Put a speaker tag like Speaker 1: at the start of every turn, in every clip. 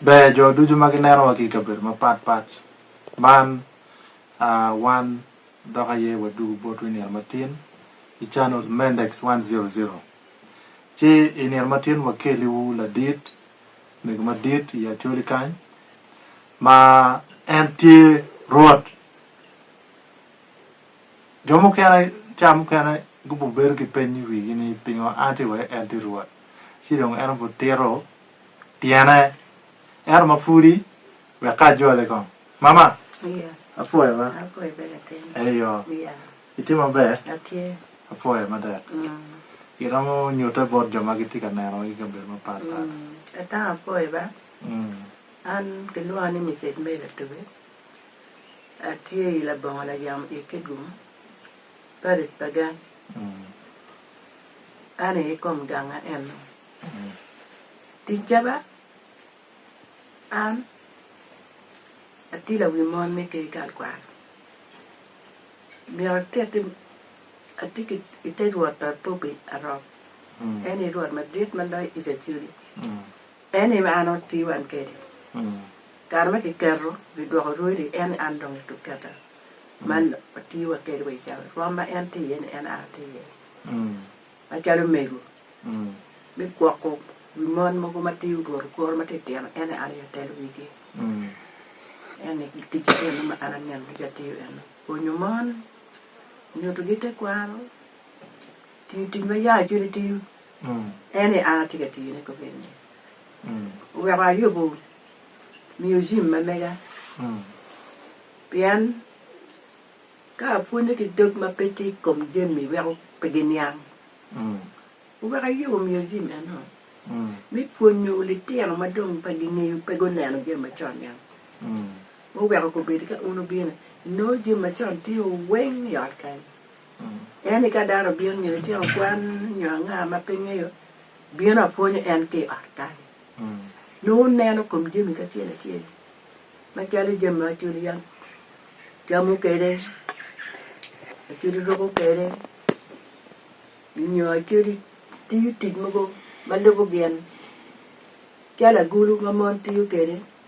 Speaker 1: Ber jo ducu ma gineno wa ki i kabedo mapat pat man wan dok aye wadugu botwu i nino matin i channel Mendex 100 ci i nino matin wakeli wu ladit mego madit i Acholi kany ma en tye Rwot Jo mukene cawa mukene gubibedo ki peny i wigi ni pingo an atye iwek en tye Rwot? Ci dong en obitito tyene ento ma pudi wek ka ajole kong. Mama, apwoyo ba?
Speaker 2: Eyo.
Speaker 1: Itye
Speaker 2: maber?
Speaker 1: Apwoyo
Speaker 2: mada.
Speaker 1: Iromo nyutte bot jo ma gitye ka neno i kabedo
Speaker 2: mapatpat? Atye i labongo layamo i Kigum, paric pa gang. An aye kom ganga eno. Ticca ba, An atye lawi mon me ker kal kwaro. Myero atiti, atye ki i te rwot pa Bobby Arok, en aye rwot madit ma loyo Icacoli. En ni me an oti wan kedi. Kare ma kiketo wi dwoko rwodi en ni an dong i tuk keta ma oti wa kedi wa icawa ni rwom ma en ti iye ni en an ati iye macalo mego mi gwoko wi mon mogo ma ti orwoto koro ma ti tino en ni an aye atelo wigi. En ni tic ma eno ma an aneno ducu atiyo eno pwonyo mon, nyutugi tekwaro, tiyo tic ma yar cwiny atiyo. En aye an atye ka tiyone kobedini. Oweko ayubo miyo Jim ma mega pien ka apwonye ki dog ma pe tye i kom jami weko pe giniang. Oweko ayubo miyo Jim eno me pwonyo litino ma dong pe gingeyo, pe guneno jami macon niang. Oweko kobedi ka un obino, inongo jami macon tye weng i ot kany. En ni ka dano obino nyo litino kwan nyo anga ma pe ngeyo bino apwonyo en ki ot kany nongo neno kom jami kacel acel macalo jami ma culu yam camo kwede culu ruko kwede nyo culu tiyo tic mogo ma lubo gin calo agulu ma mon tiyo kwede.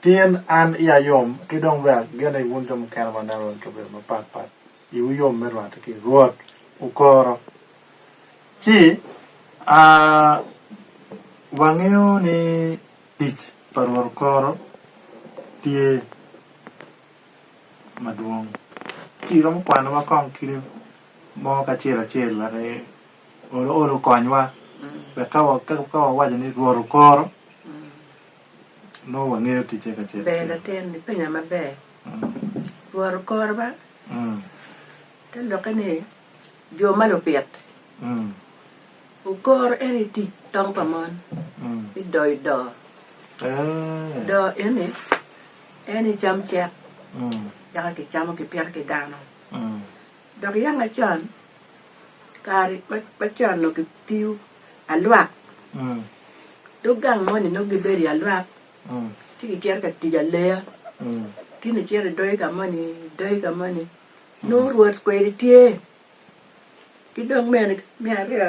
Speaker 1: Tin, an iya yom, ki dong bene agene ni wun jo mukene ma ineno wa i kabedo mapat pat iwu yom me rwatte ki i Rwot. Wukoro. Ci, a, wangeyo ni tic pa Rwot okoro tye madwong. Ci iromo kwanowa kong kite mo ki acel acel wek i, olo olo okonywa wek ka wa, ka wawaco ni Rwot okoro, Nongo wangeyo ticce kacel kacel. Ber latin ni penya
Speaker 2: maber. Lworo kore ba te lokke ni jo ma lupit wukoro en i tic tong pa mon mi doyo doo. Doo eni en i cam cek yaka kicamo kipito ki dano. Dok yam acon, kare ma con nongo kitiyo alwak, dog gang moni nongo gibedo i alwak ci kicito ka tic aleya. Ki nongo icito idoge ka moni, idoge ka moni, nongo rwot kwede tye. Ki dong mene me aryo.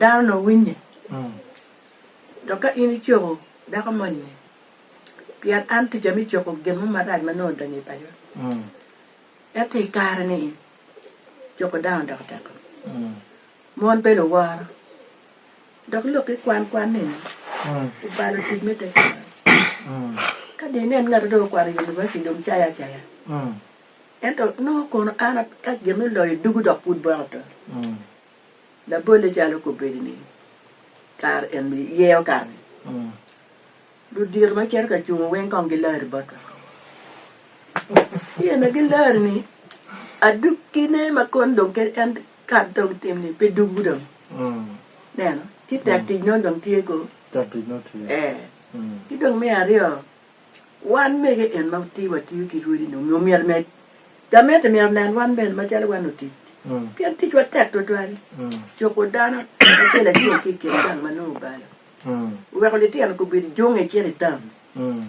Speaker 2: Dano nongo winye, dok ka in icoko dako moni, pien an ticca me coko gin mo marac ma nongo odonyo i paco, ento i kare-ni coko dano odoko tekko. Mon bene oworo, dok lok ki kwan kwan nino obalo tic me tekwaro. Ka dong inen ngat ma dong okwano i univaciti dong cayo acaya, ento nongo kono an ka gin me loyo ducu dok pud boka oto. Labolle calo kobedi ni kare en bi yeyo kare-ni, ludito ma cito ka cungo weng kong gilari botwa. Pien na gilari ni adukkine ma koni dong kadi en kare dong tim ni pe duggu dong. Neno, ci tek tic nono dong tye ko. Tek tic nono tye.
Speaker 1: Eh. Ki dong me
Speaker 2: aryo, Wan mege en ma ti watiyo ki rwodi ni onongo myero ne gamente myero onen wan bene macalo wan otic pien ticwa tek twatwal cuko dano acel acel ki i kin gang ma nongo obalo oweko litino gubedo jung i cen i tam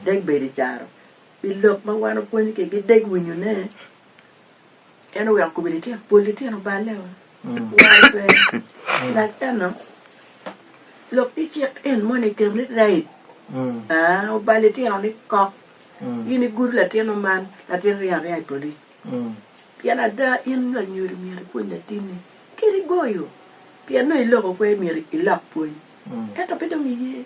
Speaker 2: dek bedo i caro pi lok ma wan opwony kigi dek winyone. En oweko kobo litino, pol litino balle o, woro twere. Dok eno, lok ki cik en moni iketo ni rape. Aa, obal litino ni kok. In igudo latino man, latin ringo aringa i polic. Pien ada, in nyo anyodo myero ipwony latinni, kadi goyo, pien nongo iloko kwer myero ilok pwony. Ento pe dong iye.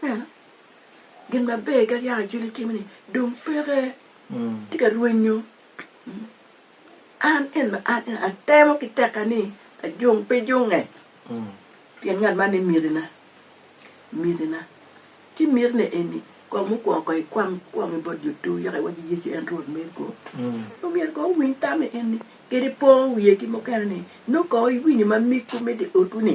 Speaker 2: Pien gin maber ka yaka Juli timo ni dong peke, tye ka rwenyo. An en ma an en atemo ki tekka ni ajung pe junge pien ngat man ni mitina, mitina. Ci mitina eni kong mukwongo kong ikwang kwong i bot Jutu yaka iwac ni Yecu en Rwot me go. Omyero kong wuwiny tammi en ni kadi po wiye ki mukene ni nongo kong iwinyo ma miggu me dye otwu ni.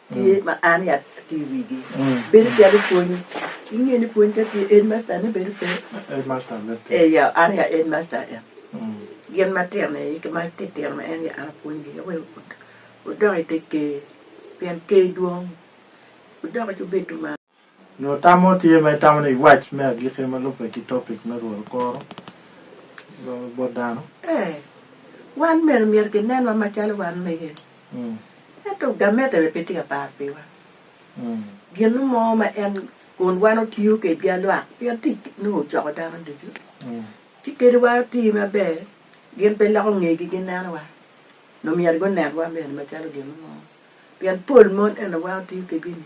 Speaker 2: tye ma an i atye i wigi bedo calo pwony inge ni pwony ka tye headmaster ne bedo pe eya
Speaker 1: an aye
Speaker 2: headmaster en gin matino ni ma titino ma en aye an apwony gi aye wek wudok ite ker pien ker dwong wudok icubedo malo. Nyo tam mo
Speaker 1: tye ma itamo ni wac me agikki ma lubbe ki topic me Rwot okoro bot dano? Ee, wan
Speaker 2: mego myero kinenwa macalo wan mege. Ento gamette bene pe tye ka par piwa. Gin mo ma en kun wan otiyo kwedgi alwak pien tic nongo ocoko dano ducu. Ci kadi wan oti maber, gin pe loko ngegi ginenowa, nyo myero gunenwa bene macalo gin mo. Pien pol mon eni wan otiyo kwedgi-ni,